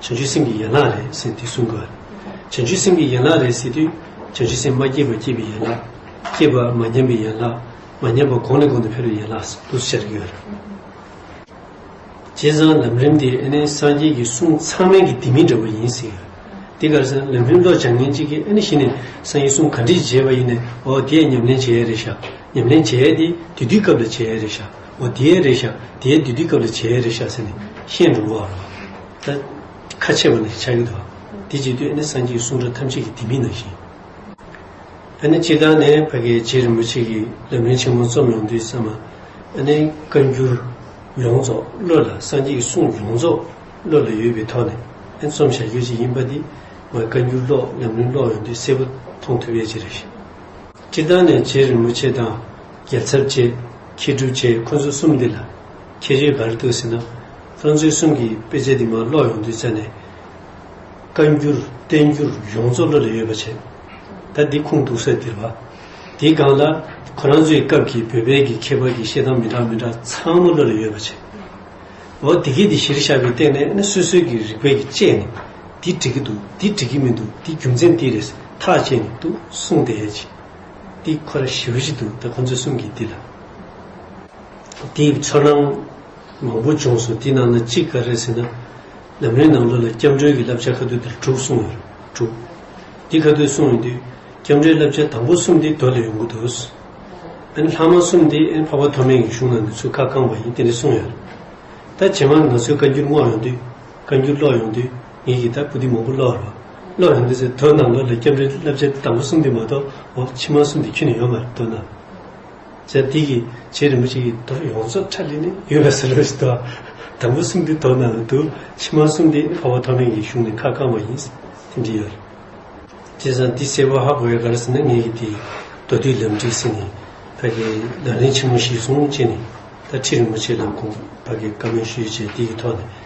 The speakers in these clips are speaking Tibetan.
བྱང་ཆུབ་སེམས་ཀྱི་ཡན་ལག་རེད་ཟེར་དུས་གསུང་གི། བྱང་ཆུབ་སེམས་ཀྱི་ཡན་ལག་རེད་ཟེར་དུས། བྱང་ཆུབ་སེམས་མ་སྐྱེས་པ་སྐྱེས་པའི་ཡན་ལག། སྐྱེས་པ་མ་ཉམས་པའི་ཡན་ལག། མ་ཉམས་པ་གོང་ནས་གོང་དུ་འཕེལ་བའི་ཡན་ལག་ཟེར་དུས་སུ་བྱ་རིགས་ཡོད། བྱས་ཙང་ལམ་རིམ་འདི་ཨེ་ནི་སངས་རྒྱས་ཀྱི་གསུང་ཚང་མན་གྱི་དེ་མིན་འདྲ་བོ་ཡིན་ཟེར། འདི་གར་སེམས་ལམ་རིམ་ལོག་བྱང་ངན་གཅིག་གིས་ཨེ་ནི་གཞི་ནས་སངས་རྒྱས་གསུང་ག་འདྲིས་བྱས་པ་ཡིན་ནས་འོ་དེས་ཉམས་ལེན་བྱས་རེད་བཞག་ཉམས་ལེན་བྱས་དེ་དེ་དུས་སྐབས་ལ་བྱས་རེད་བཞག། འོ་དེའི་རེ་བཞག་དེའི་བདུད་སྡིག་སྐབས་ལ་བྱའི་རེ་བཞག་ཟེར་ནས་ཤེས་འགྲོ་བ་འམ། ད་ཁ་ཕྱེ་བ་ནི་ཆགས་ཡུལ་དུ་འམ། དེ་ཇི་སྟེ་ནི་སངས་རྒྱས་གསུང་སྒྲ་ཐམས་ཅད་ཀྱི་དེ་མིན་ནང་བཞིན། ཨ་ནི་སྤྱིར་བཏང་ནས་བྷ་གའི་རྗེ་རིན་པོ་ཆེ་གིས་ལམ་རིན་ཆེན་མོ་རྩོམ་ཡོང་དུས་བསམ། ཨ་ནི་བཀའ་འགྱུར་ཡོངས་རྫོགས་བློ་ལ་སངས་རྒྱས་ཀྱི་གསུང་ཡོངས་རྫོགས་བློ་ལ་ཡོད་པའི་ཐོག་ནས་ཨེ་རྩོམ་བྱ་རྒྱུ་ཅི་ཡིན་པ་འདི་ང་བཀའ་འགྱུར་ཀློག་ལམ་རིན་ཀློག་ཡོང་དུས་གསལ་པོ་མཐོང་ཐུབ་པའི་ཕྱིར། སྤྱིར་བཏང་ནས་རྗེ་རིན་པོ་ཆེ་དང་རྒྱལ་ཚབ་བཅས་ཁྱི་སྒྲུབ་བཅས་ཁོ་ཚོ་གསུམ་འདི་ལ་ཁྱི་རེ་འགའ་རེ་གཏུགས་ཟིན་ན། ཁྱོད་ཚོའི་གསུམ་གྱིས་དཔེ་ཆ་འདི་མ་ཀློག་ཡོང་དུས་བཙལ་ནས། བཀའ་འགྱུར་བསྟན་འགྱུར་ཡོངས་རྫོགས་བློ་ལ་ཡོད་པ་བྱེད། ད་འདི་ཁུངས་གཏུགས་སར་ལྡིར་བ། འདིའི་སྒང་ལ། ཁོ་རང་ཚོའི་སྐབས་ཀྱི་བོད་པའི་གི་ཁྱད་པར་གྱི་བཤད་སྟངས་མི་འདྲ་མི་འདྲ་ཚང་མ་བློ་ལ་ཡོད་པ་བྱེད། འོ་དེ་གས་འདི་གཞིར་བཞག་པའི་སྟེང་ནས་ནི་སོ་སོའི་གི་རིག་པའི་གི་དཔྱད་ནས། འདི་འགྲིག་གི་འདུག་འདི་འགྲིག་གི་མི་འདུག་འདི་རྒྱུ་མཚན་འདི་རེད་ཐག་བཅད་ནས་འདུག་གསུངས་དེ་ཡས་ཀྱི། འདི་ཁོ་ར་ཞིའུ་ཞིག་འདུག་ད་ཁོ་ཚོའི་གསུང་གིས་འདི་ལ་འདི་ཚོར་སྣང་མང་པོ་བྱུང་སོང་འདི་ནང་ན་ཅི་ག་རེད་ཟེར་ན་ལམ་རིམ་ནང་ལོ་ལ་སྐྱབས་འགྲོའི་གི་བསླབ་བྱ་ཁ་ཐུག་འདིར་དྲུག་གསུངས་ཡོད་རེད་དྲུག་འདི་ཁ་ཐུག་གསུངས་ཡོད་དུས་སྐྱབས་འགྲོའི་བསླབ་བྱ་དང་པོ་གསུམ་འདི་དོལ་ལ་ཡོང་གི་འདུག་ཨན་ལྷག་མ་གསུམ་འདི་ཨན་འཕགས་པ་ཐོག་མེད་ཀྱི་གཞུང་ནང་ནས་ཚུར་ཁ་བསྐངས་པ་ཡིན་དེ་འདྲ་གསུངས་ཡོད་རེད་ད་ཇེ་མང་ང་ཚོའི་བཀའ་འགྱུར་བསྔོགས་ཡོང་དུས། བཀའ་འགྱུར་ཀློག་ཡོང་དུས་ངེད་ཀྱིས་ད་པུ་ཏི་མང་པོ་ཀློག་རོགས། ཀློག་ཡོང་དུས་ཚེ་དོན་ནང་ལོགས་ལས་སྐྱབས་འགྲོའི་བསླབ་བྱའི་དང་པོ་གསུམ་འདི་མ་གཏོགས་འོག་ཕྱི་མ་གསུམ་འདི་ཁྱོན་ནས་ཡོད་མ་རེད་འདོད་ན། ཟེར་དེ་གི་རྗེས་རིན་པོ་ཆེ་ཡིས་དོར་ཡོངས་རྫོགས་ཁྲ་ལི་ནི་ཡོད་པའི་ཟེར་ལོས་དོར། དང་པོ་གསུམ་འདི་དོར་ནང་ལོགས་དུ་ཕྱི་མ་གསུམ་འདི་ཕ་བོ་ཐོག་མེད་ཀྱི་གཞུང་ནས་ཁ་བསྐང་བ་ཡིན། དེ་འདྲི་ཡོད་རེད། དེ་བཟང་འདི་གསལ་བོ་ཧ་གོ་བའི་ག་རེ་ཟེར་ན་ངེད་ཀྱིས་དེ་མདོ་དུས་ལམ་བྲིས་ཟིན་ནས་ད་གི་ལག་ལེན་ཆེན་མོ་གཞིར་བཟུང་བྱས་ནས་ད་ཁྲི་རིན་པོ་ཆེ་ལ་དགོངས་པ་གི་བཀའ་མོལ་ཞུས་བྱས་དེ་གི་ཐོག་ནས།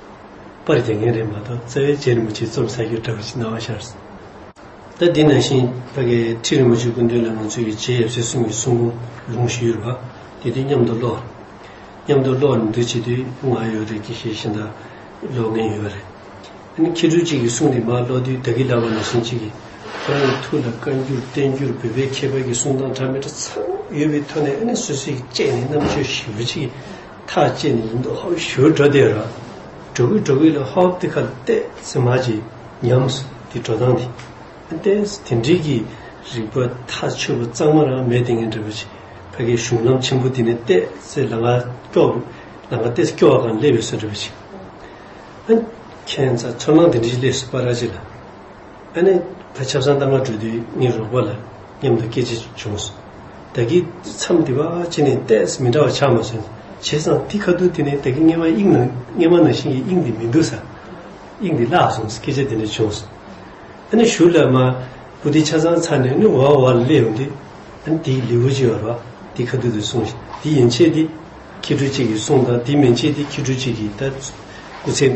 པར་རྒྱག་མཁན་རེད་མ་གཏོགས་རྩ་བའི་རྗེ་རིན་པོ་ཆེ་རྩོམ་གསར་རྒྱུད་བཀྲ་བྷ་ཆེ་སྣང་བ་ཤར་སོང། ད་འདི་ནང་བཞིན་ཕ་གའི་ཁྲི་རིན་པོ་ཆེ་སྐུ་མདུན་ལ་ང་ཚོ་ཡི་རྗེ་ཡབ་སྲས་གསུམ་གྱི་གསུང་འབུམ་ལུང་བཞི་ཡོད་པ་དེ་དུས་མཉམ་དུ་ཀློག། མཉམ་དུ་ཀློག་ནས་འདི་བྱེད་དུས་ང་ཡོད་རེད་ཀྱི་ཞེས་ཤིང་རྟ་ཀློག་མཁན་ཡོད་རེད། ཨ་ནི་ཁྱེད་སྤྲུལ་གཅིག་གིས་གསུང་དེ་མ་ཀློག་དུས་ད་གི་ལག་པ་ན་ཤིང་གཅིག་གིས་ཁོ་རང་གི་ཐུགས་ལ་བཀའ་འགྱུར་བསྟན་འགྱུར་འབུལ་བས་ཁྱད་པར་གྱི་གསུང་དང་གྲངས་མི་འདྲ་ཚང་ཡོད་པའི་ཐོག་ནས་ཨ་ནི་སུས་སུས་ཀྱིས་དཔྱད་ནས་རྣམ་དཔྱོད་ཞིབ་མོ་བྱེད་ཀྱི་ཐག་བཅད་ནས་ཡིན་འདུག་ཧཱུྃ་ཞུ་བྲོ་དེ་ར། བྲོ་གུ་བྲོ་གུ་ལ་ཧཱུྃ་དེ་ཁ་བལྟས་ཚེ་མ་གྱི་ཉམས་སུ་དེ་བྲོ་སྟངས་དེ་བལྟས་སོ་དེ་འགྲིག་གི་རིག་པ་ཐ་ཆོད་པོ་གཙང་མ་རང་མེད་དེ་ངས་འདྲི་བར་བྱེད། ཕ་གི་གཞུང་ལམ་ཆེན་པོ་དེ་ནས་བལྟས་ཚེ་ལ་ང་སྐྱོ། ལ་ང་བལྟས་ཚེ་སྐྱོ་བ་གང་སླེབས་ཡོད་སོགས་འདྲི་བར་བྱེད། ཨ། ཁྱེད་ཚ་ཚོར་སྣང་དེ་འདྲི་ཞིག་སླེབས་སོ་པ་ར་ཅི་ལ། ཨ་ནེ། ད་ཆབ་གསང་གཏམ་ངག་འབྲུ་དུས་གཉིས་རོགས་པ་ལ་མཉམ་དུ་སྐད་ཅིག་བྱུང་སོང། བདག་གིས་མཚམས་འདི་བ་ཅི་ནས་ལྟས་མི་འདྲ་བ་ཆགས་མ་སོང། བྱས་ཙང་དེ་ཁ་ཐུག་དེ་ནས་བདག་གི་སྔས་མ་དབྱིངས་ནང་སྔས་མ་ནང་བཞིན་གྱི་དབྱིངས་འདི་མི་འདུག་ས། དབྱིངས་འདི་བརླག་སོང་སྐད་ཆ་དེ་འདྲ་བྱུང་སོང། ཨ་ནེ་ཞུ་ལ་མ། བུ་དེ་ཆ་ཚང་ཚར་ནས་ནི་འོག་འོག་ལ་སླེབས་ཡོང་དུས། ཨ་ནེ་དེའི་ལེའུ་གཅིག་བར་བ་དེ་ཁ་ཐུག་དུ་སོང་ཞིང་དེ་ཡན་ཆད་དེ། ཁྱི་སྤྲུལ་གཅིག་གིས་གསུངས་དང་དེ་མན་ཆད་དེ་ཁྱི་སྤྲུལ་གཅིག་གིས་ད། སྐུ་ཚེ།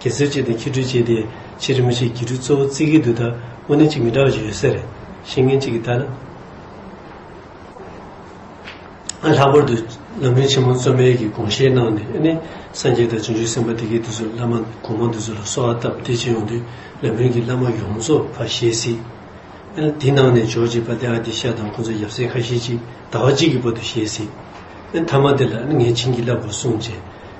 གེ་སེར་བཅས་དང་ཁྱི་སྦྲུལ་བཅས་ཏེ་ཕྱི་རིམ་མི་ཆོས་སྒྱིད་སྦྲུལ་གཙོ་བོ་རྩིས་ཀའི་དུས་དང་དབུ་ནན་གཅིག་མི་འདྲ་བ་ཞིག་ཡོད་ས་རེད། ཤེས་མཁན་གཅིག་གིས་ལྟར་ན། ལྷག་པར་དུ་ལམ་རིམ་ཆེན་མོ་གཙོ་མེད་ཀྱི་དགོངས་བཞེས་གནང་ནས་ཨ་ནི་སངས་རྒྱས་དང་བྱང་ཆུབ་སེམས་དཔའ་དེ་གའི་དུས་སུ་བླ་མ་གོང་མ་འདི་ཚོ་ལ་གསོལ་བ་བཏབ་བདེ་སྐྱིད་ཡོང་དུས་ལམ་རིམ་གྱི་བླ་མ་ཡོངས་རྫོགས་ཕར་བཞེས་སྲིད། ཨ་དེ་གནང་ནས་འཇོག་ཅེས་པ་དེ་ཨ་དེ་ཤ་དང་ཁོ་ཚོ་ཡབ་སྲས་ཁ་ཤས་ཅིག་ཟླ་བ་གཅིག་གི་བར་དུ་བཞེས་སྲིད། ཨ་མཐའ་མ་དེ་ལ་ཨ་ངས་བྱིན་གྱིས་བརླབས་དགོས་གསུངས་རྗེས།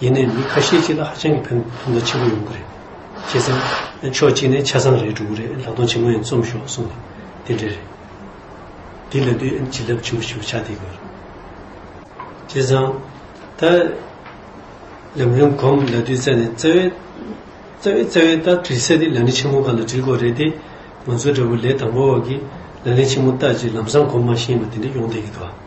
ཡིན་ནའི་མི་ཁ་ཤས་ཅིག་ལ་ཧ་ཅང་གི་ཕན་ཐོག་མཐའ་ཆེན་པོ་ཡོང་གི་རེད། བྱས་ཙང། ཕྱོགས་གཅིག་ནས་ཆ་ཚང་རེད་འགྲོ་གི་རེད་ལག་སྟོང་ཆེན་མོ་ཡང་རྩོམ་ཤོག་གསུངས་ནས་དེ་འདྲས་རེད། དེ་ལས་དུས་ཡུན་བྱིན་རླབས་ཆེན་པོ་ཞིག་ལ་ཆགས་བསྡད་དགོས་རེད། བྱས་ཙང། ད། ལམ་རིམ་གོམ་ལ་དུས་བཙལ་ནས་བཙལ་བས། བཙལ་བས་བཙལ་བས་ད་དྲིལ་ཚད་དེ་ལག་ལེན་ཆེན་མོ་ག་ལ་དྲིལ་དགོས་རེད་དེ། ང་ཚོ་འདྲ་བོ་ལས་དང་པོ་བ་གིས་ལག་ལེན་ཆེན་མོ་ལྟ་ཅི་ལམ་སང་གོམ་མ་ཤེས་པ་དེ་འདྲས་ཡོང་བསྡད་ཀི་དགའ།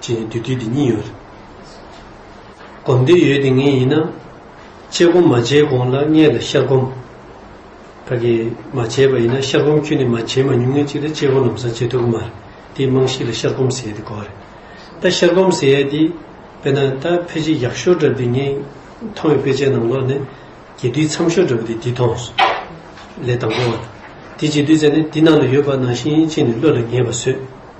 ཅེས་ནི་བདུད་བཏུལ་དེ་གཉིས་ཡོད། སྒོམ་བདུད་ཡོད་དེ་ངེས་ཡིན་ན། དཔྱད་སྒོམ་མ་བྱས་གོང་ལ་མངལ་ལ་ཤར་སྒོམ། ད་གི་མ་བྱས་པ་ཡིན་ན་ཤར་སྒོམ་ཁྱོད་ནི་མ་བྱས་མ་མྱོང་ངེས་གཅིག་ལ་དཔྱད་སྒོམ་ལམ་སང་བྱེད་ཐུབ་ཀྱི་མ་རེད་དེའི་རྨང་གཞི་ལ་ཤར་སྒོམ་ཟེར་ཡས་དེ་གོ་རེད། ད་ཤར་སྒོམ་ཟེར་ཡས་དེ་དཔེར་ན་ད་ཕལ་ཆེར་ཡག་ཤོས་འདྲ་བདུད་ངས་མཐོང་བའི་དཔེ་ཆའི་ནང་ལོགས་ནས་རྒྱས་བསྡུས་འཚམ་ཤོས་འདྲ་བ་དེ་འདི་མཐོང་སོང། ལས་དང་པོ་བ། དེ་རྒྱས་བསྡུས་བྱས་ནས་དེ་ནང་ལ་ཡོད་པ་ནང་བཞིན་ཅིག་ནི་བློ་ལ་ངེས་པ་བཟོས།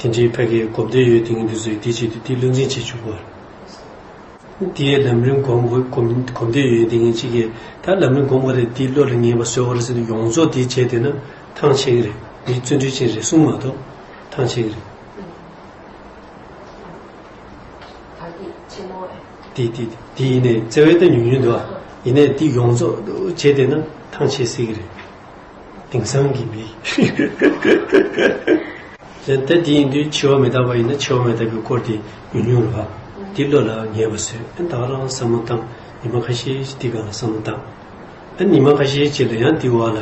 དེ་འདྲའི་ཕལ་སྐད་གོ་བདེ་ཡོད་དེ་ངས་འདི་ཚོའི་བདེ་སྐྱིད་དུ་དེ་བློ་འཛིན་བྱེད་བཅུག་པར། དེའི་ལམ་རིམ་གོམས་གོ་བདེ་ཡོད་དེ་ངས་ཅི་ཁེད་ད་ལམ་རིམ་གོམས་ག་རེད་དེའི་བློ་ལ་ངེས་པ་བཟོས་བ་རེད་ཟེར་ནས་ཡོངས་རྫོགས་དེ་བྱས་དེ་ན་ཐང་ཆད་གི་རེད་མི་བརྩོན་འགྲུས་ཅན་རེད་གསུངས་མ་གཏོགས་ཐང་ཆད་གི་རེད། དེ་དེ་དེ་ཡིན་ནས་བརྩེ་བས་ད་ཉུང་ཉུང་དུ་ཨ་ཡིན་ནས་དེ་ཡོངས་རྫོགས་བྱས་དེ་ན་ཐང་ཆད་སྲིད་གི་རེད། དེང་སང་གི་མི། ད་དེ་ཡིན་དུས་འཆི་བ་མི་རྟག་པ་ཡིན་ན་འཆི་བ་མི་རྟག་པའི་སྐོར་དེ་ཉུང་ཉུང་རེད་བ། འདི་བློ་ལ་ངེས་པ་བཟོས་ཨ་ད་རང་བསམ་བློ་བཏང་ཉི་མ་ཁ་ཤས་ཀྱི་འདི་ག་ལ་བསམ་བློ་བཏང། ཨ་ཉི་མ་ཁ་ཤས་ཀྱི་ལ་ཡང་འདི་བ་ལ་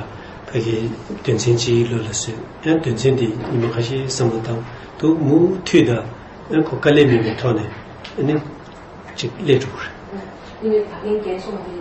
ཕ་གི་དོན་ཚན་གཅིག་བློ་ལ་བཟོས་ཨ་དོན་ཚན་འདི་ཉི་མ་ཁ་ཤས་བསམ་བློ་བཏང་འདུག་མུ་མཐུད་ད་ཨ་ཁོ་དཀའ་ལས་མིན་པའི་ཐོག་ནས་ཨ་ནི་ཅིག་སླེབས་འགྲོ་གི་རེད། དེ་བས་ད་གིན་རྒན་སོང་འདི།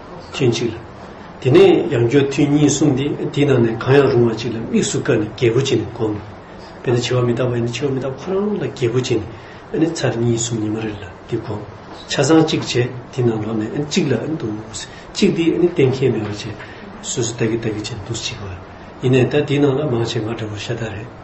ཐུན་གཅིག་ལ། དེ་ནས་ཡང་སྦྱོར་ཐུན་གཉིས་གསུམ་སྟེ་དེའི་ནང་ནས་གང་ཡང་རུང་བ་ཅིག་ལ་དམིགས་སུ་བཀར་ནས་རྒྱལ་པོ་བྱིན་ནས་བསྒོམ། དཔེར་ན་བྱི་བ་མི་རྟག་པ་ཡིན་ན་བྱི་བ་མི་རྟག་པ་ཁོ་རང་ལ་རྒྱལ་པོ་བྱིན་ནས་ཨཱ་ནི་ཚར་གཉིས་གསུམ་ཉི་མ་རེ་ལ་འདི་བསྒོམ། ཆ་ཚང་གཅིག་བྱས་དེའི་ནང་ལོགས་ནས་ཨཱ་ནི་གཅིག་ལ་ཨཱ་ནི་འདུག། གཅིག་འདི་ཨཱ་ནི་གཏན་འཁེལ་མེད་པར་བྱས། སོ་སོ་ལྟ་གི་ལྟ་གི་བྱས་ནས་འདུག་གཅིག་བར། ཡིན་ནས་ད་དེའི་ནང་ལ་མང་ཆེ་འགའ་འདྲ་བོ་ཤ་སྟག་རེད།